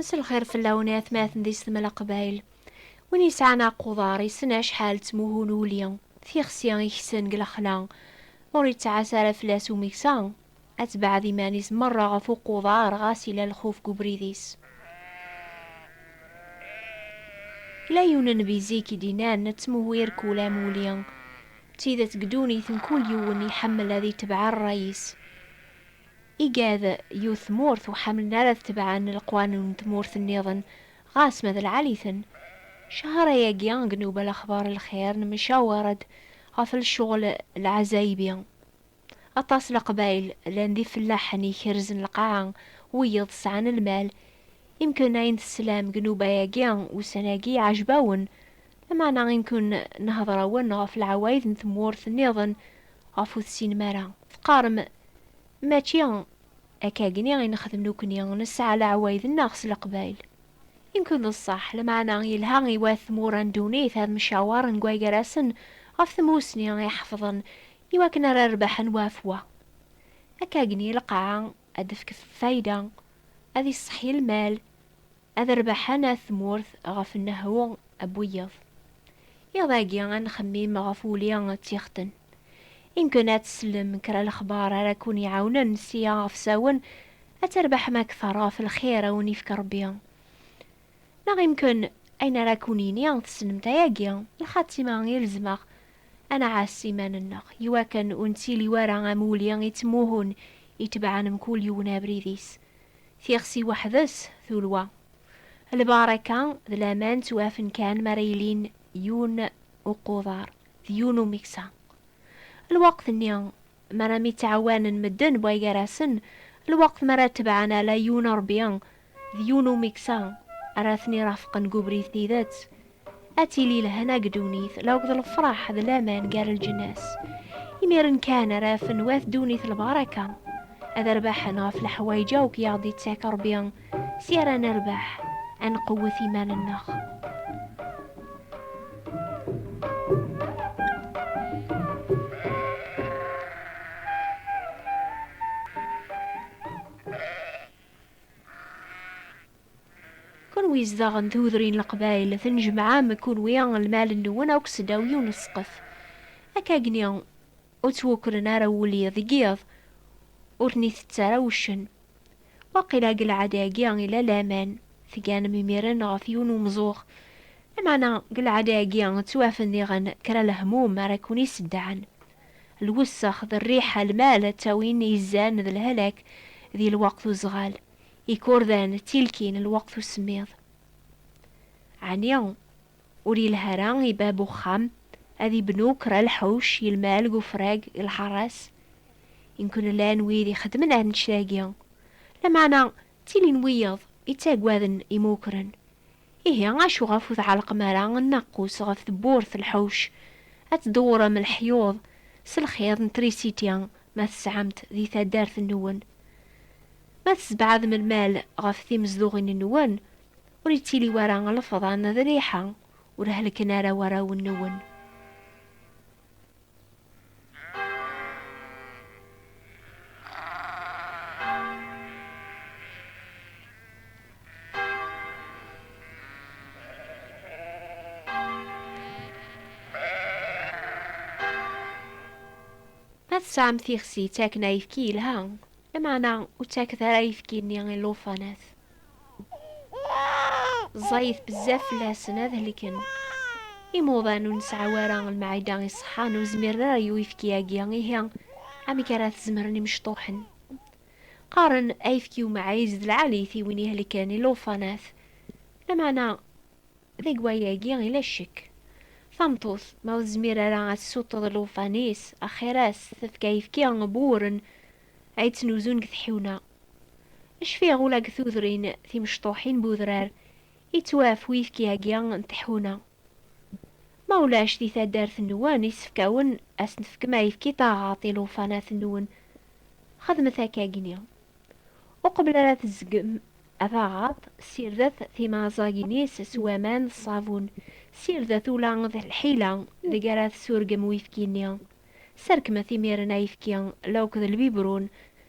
Msel xir fell-awen i atmaten di Stemla Qbayl. Win yesɛan aquḍar yessen acḥal d tmuhu n uli, tixsi i ksen deg lexla. Ma ur yettɛassa ara fell-as umeksa, ad tebɛed iman-is merra ɣef uquḍar ɣas yella lxuf deg ubrid-is. Yella yiwen n nnbi zik i d-innan, Ttmuhu irkul am uli. D tidet deg ddunit mkul yiwen iḥemmel ad itebɛ rray-is. Igad yiwet tmurt ur ḥamlen ara ad tebɛen leqwanun n tmurt nniḍen ɣas ma d lɛali-ten. Cahar-ayagi deg Newbal Axbar Lxir nemcawar-d ɣef lecɣel lɛazayebi. Aṭas leqbayel llan d ifellaḥen ikerzen lqaɛa, wiyeḍ sɛan lmal. Imken ayen teslam deg nnuba-agi ussan-agi iɛejb-awen, lameɛna imken nehder-awen ɣef leɛwayed n tmurt nniḍen ɣef ur tessinem ara. Teqqarem, Mačči akkagni i nexdem nekni, nesɛa leɛwayed-nneɣ s leqbayel. Imken d ṣṣeḥ, lameɛna yelha i wat tmura n ddunit ad mcawaren deg wagar-asen ɣef tmussni iḥefḍen I wakken ara rebḥen wa ɣef wa. Akk-agni, lqaɛa ad d-tefk fayda, ad iṣṣeḥḥi lmal, ad rebḥen at tmurt ɣef nnehhu n wiyeḍ. Iḍ-agi ad nxemmim ɣef wuli d tixetten. Imken ad tsellem kra lexbar ara kkun-iɛawnen sia ɣef sawen ad trebḥem akteṛ ɣef lxir a wen-ifk Ṛebbi. Neɣ imken ayen ara kun-yini tessnemt ayagi, lxatima i rezmeɣ ad nɛass iman-nneɣ i wakken ur nettili wara am wuli ittmuhun itebɛen mkul yiwen abrid-is. Tixsi weḥd-s tulwa. Lbaṛaka d laman ttwafen kan mi ara ilin yiwen uquḍar d yiwen umeksa. Lweqt-nni mi ara myettɛawanen medden bɣa gar-asen, lweqt mi ara tebɛen ala yiwen Ṛebbi d yiwen umeksa ara ten-irafqen deg ubrid tidet, ad tili lehna deg ddunit la akked lefraḥ d laman gar lǧnas. Imiren kan ara afen wat ddunit lbaraka, ad rbaḥen ɣef leḥwayeǧ akk i aɣ-d-ittak Rebbi, si ara nerbeḥ, ad nqewwet iman-nneɣ. Kunwi izdaɣen tudrin leqbayel, tnejmaɛem kunwi lmal-nwen akk sedaw yiwen n ssqef. Akkagni ur ttwukren ara wulli deg yiḍ, ur ten-itett ara wuccen. Waqila deg lɛada-agi ila laman, tganem imiren ɣef yiwen n umẓuɣ, lameɛna deg lɛada-agi ttwafen diɣen kra lehmum ara kun-iseddɛen. lwessex d rriḥa, lmal ttawin izan d lhalak di lweqt uzɣal, ikurdan ttilkin lweqt usemmiḍ. Ɛni ur yelha ara i bab uxxam ad ibnu kra lḥuc i lmal g ufrag i lḥaṛas? Imkun llan wid ixeddmen annect-agi, lameɛna ttilin wiyeḍ ittaggaden imukren, Ihi acu ɣef ur tɛellqem ara nnaqus ɣef tewwurt lḥuc, ad tdewwrem leḥyuḍ s lxiḍ n trisiti ma tesɛam-t di taddart-nwen? Ma tessebɛadem lmal ɣef timezduɣin-nwen, ur yettili wara lefḍan d rriḥa, ur hellken ara warraw-nwen. Ma tesɛam tixsi ttaken ayefki yelha, lameɛna ur ttaket ara ayefki-nni i llufanat. ẓẓayit bezzaf fell-asen ad helken. Imuḍan ur nesɛa wara lmeɛida iṣeḥḥan ur zmiren ara i uyefki-agi, ihi amek ara t-zemren imecṭuḥen? Qqaren ayefki umɛiz d lɛalit i win ihelken i lewṭanat, lameɛna deg wayagi yella ccek. Tameṭṭut ma ur tezmir ara ad tessuṭṭeḍ lewṭan-is, axir-as tefk ayefki n wuren ay ttnuzun deg tḥiwna. Cfiɣ ula deg tudrin timecṭuḥin n udrar yettwaf uyefki-agi n tḥuna. Ma ulac di taddart-nwen yessefk awen ad s-tefkem ayefki taɣaḍt i lewṭanat-nwen, xedmet akkagi-nni. Uqbel ara tezzgem taɣaḍt, ssirdet timaẓagin-is s waman d ṣṣabun, ssirdet ula d lḥila deg ara tessurgem uyefki-nni. Sserkmet imiren ayefki la uked lbibrun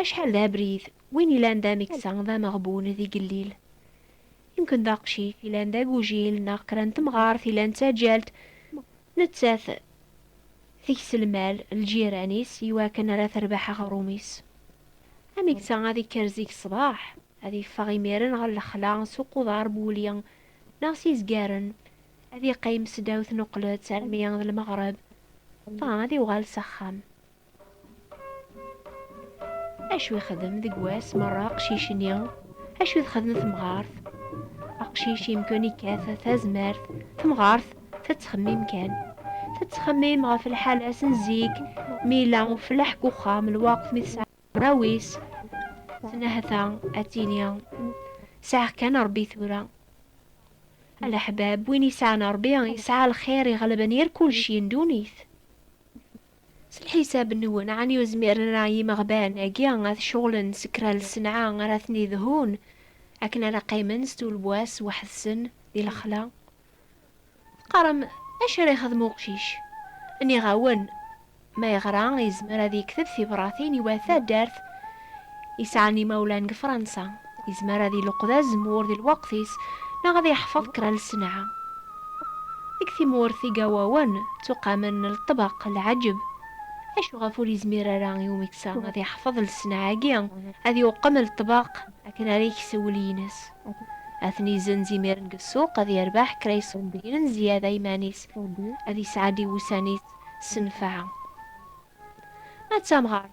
Acḥal d abrid, win ilan d ameksa, d ameɣbun, d igellil. Yemken d aqcic ilan d agujil neɣ kra n temɣart ilan d taǧǧalt, nettat teks lmal lǧiran-is i wakken ara terbeḥ aɣrum-is. Ameksa ad ikker zik ṣṣbeḥ, ad iffeɣ imiren ɣer lexla s uquḍar n wuli neɣ s izgaren, ad iqqim s ddaw tnuqlet armi d lmeɣreb, dɣa ad iwɣal s axxam. Acu yexdem deg wass merra aqcic-nni? Acu txedem temɣart? Aqcic yemkun ikkat tazmert, temɣart tettxemmim kan. Tettxemmim ɣef lḥala-s n zik, mi yella uflaḥ deg uxxam, lweqt mi tesɛa rawis, tenahta ad tini sɛiɣ kan Rebbi tura. Alaḥbab, win yesɛan Rebbi, yesɛa lxir iɣelben yir kulci n ddunit. S lḥisab-nwen, ɛni ur zmiren ara yimeɣban-agi ad ceɣlen s kra n lsenɛa ara ten-idhun, akken ara qqimen s tulewwas weḥd-sen di lexla? Teqqarem, Acu ara yexdem uqcic? Nniɣ-awen, Ma yeɣra, yezmer ad yekteb tibratin i wat taddart, yesɛan imawlan deg Fransa, yezmer ad iluqed azemmur di lweqt-is neɣ ad yeḥfeḍ kra n lsenɛa. Deg tmurt Igawawen ttuqamen lṭbeq, lɛeǧb. Acu ɣef ur yezmir ara i umeksa ad yeḥfeḍ lsenɛa-agi, ad yuqem lṭbeq akken ara yeks ul-ines? Ad ten-izenz imiren deg ssuq, ad yerbeḥ kra iṣebbiyen n zzyada iman-is, ad yesɛeddi wussan-is s nnfeɛ. Ma d tamɣart,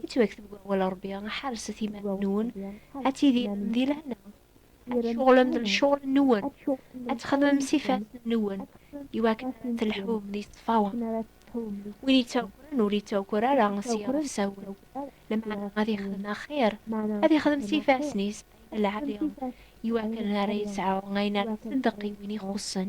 yettwakteb deg wawal n Ṛebbi, Ḥerset iman-nwen ad tidirem di lehna, ad tceɣlem d lecɣal-nwen, ad txedmem s ifassen-nwen, iwakken ara telḥum di ṣṣfawa. Win yettawkren ur yettawker ara s yiɣerfsawen, lameɛna ad yexdem axir, ad yexdem s ifassen-is ayen lɛali, iwakken ara yesɛu ayen ara iṣeddeq i win ixuṣṣen.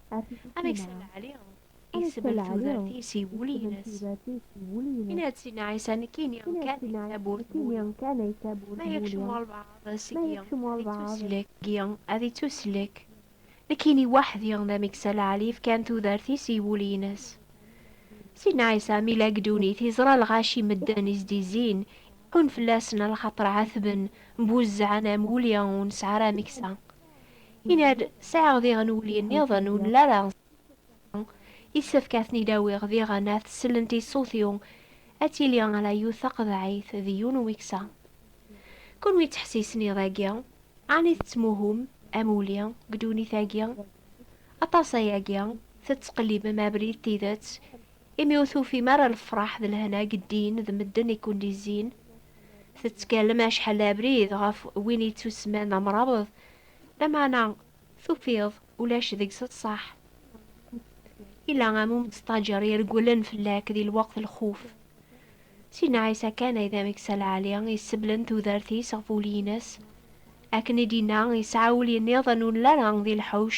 amek sella ɛli isbel tudert-is i wul-ines yenna-d sidna ɛisa nekkini kan di taburt bul ma yekcem walbaɛḍ seg-i ad ittuslek seg-i ad ittuslek nekkini waḥdi d amek sella ɛli fkan tudert-is i wul-ines sidna ɛisa mi la gdunit iẓra lɣaci medden izdizzin iɛun fell-asen alxaṭer ɛatben mbuzzɛen am wuli ur nesɛi ara ameksa Yenna-d, Sɛiɣ diɣen wulli nniḍen ur nli ara Yessefk ad ten-id-awiɣ diɣen ad sellent i ṣṣut-iw, ad tili ala yiwet taqeḍɛit d yiwen umeksa. Kunwi ttḥessisen iḍ agi, ɛni tettmuhum am wulli deg ddunit agi? Aṭas ayagi tettqellibem abrid d tidet, imi ur tufim ara lefraḥ d lehna deg ddin d medden i kwen-d-izzin. Tettkallem acḥal abrid ɣef win yettusemman amrabeḍ, lameɛna tufiḍ ulac deg-s ṣṣeḥ. Yella am umestaǧer iregglen fell-ak di lweqt lxuf. Sidna Ɛisa kan ay d ameksa lɛali iseblen tudert-is ɣef ul-ines. Akken i d-yenna, yesɛa ul-nniḍen ur nelli ara di lḥuc,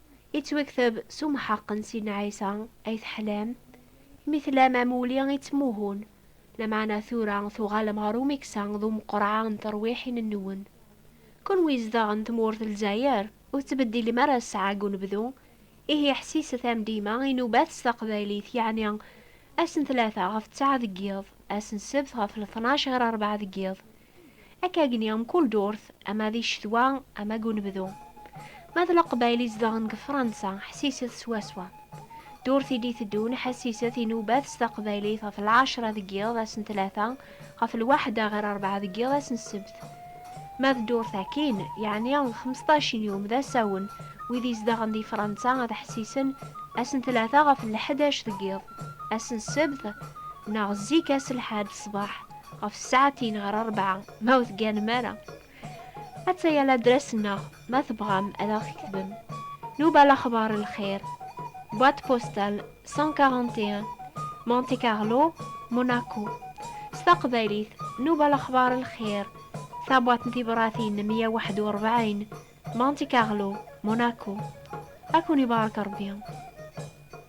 Yettwakteb s umḥeqq n Sidna Ɛisa ay teḥlam, mi tlam amulli yettmuhun, lameɛna tura tuɣalem ɣer umeksa d umeqreɛ n terwiḥin-nwen. Kenwi izedɣen tmurt n Lezzayer, ur tettbeddilem ara ssaɛa deg unebdu, ihi ḥsiset am dima inubat s taqbaylit, yeɛni ass n tlata ɣef ttaɛa deg yiḍ, ass n ssebt ɣef letnac ɣir rebɛa deg yiḍ, Akka gni mkul durt, ama di ccetwa, ama deg unebdu. Ma d Leqbayel i zedɣen deg Fransa, ḥsiset swaswa. Durt i d-iteddun, ḥassiset inubat s taqbaylit ɣef lɛecra deg yiḍ ass n tlata, ɣef lwaḥda ɣer rebɛa deg yiḍ ass n ssebt. Ma d durt akkin, yeɛni d xmesṭac n yum d asawen, wid izedɣen di Fransa ad ḥsisen ass n tlata ɣef lḥdac deg yiḍ, ass n ssebt, neɣ zik ass lḥad ṣṣbeḥ. ɣef ssaɛtin ɣer rebɛa ma ur tegganem ara. Atta-ya ladras-nneɣ ma tebɣam ad aɣ-tketbem, Nouba Lakhbar El Khair, boîte postale 141, Monte Carlo, Monaco. S taqbaylit, Nouba Lakhbar El Khair, Tabwaṭ n tibṛatin meyya u waḥed u ṛebɛin, Monte Carlo, Monaco. Ad ken-ibarek Ṛebbi.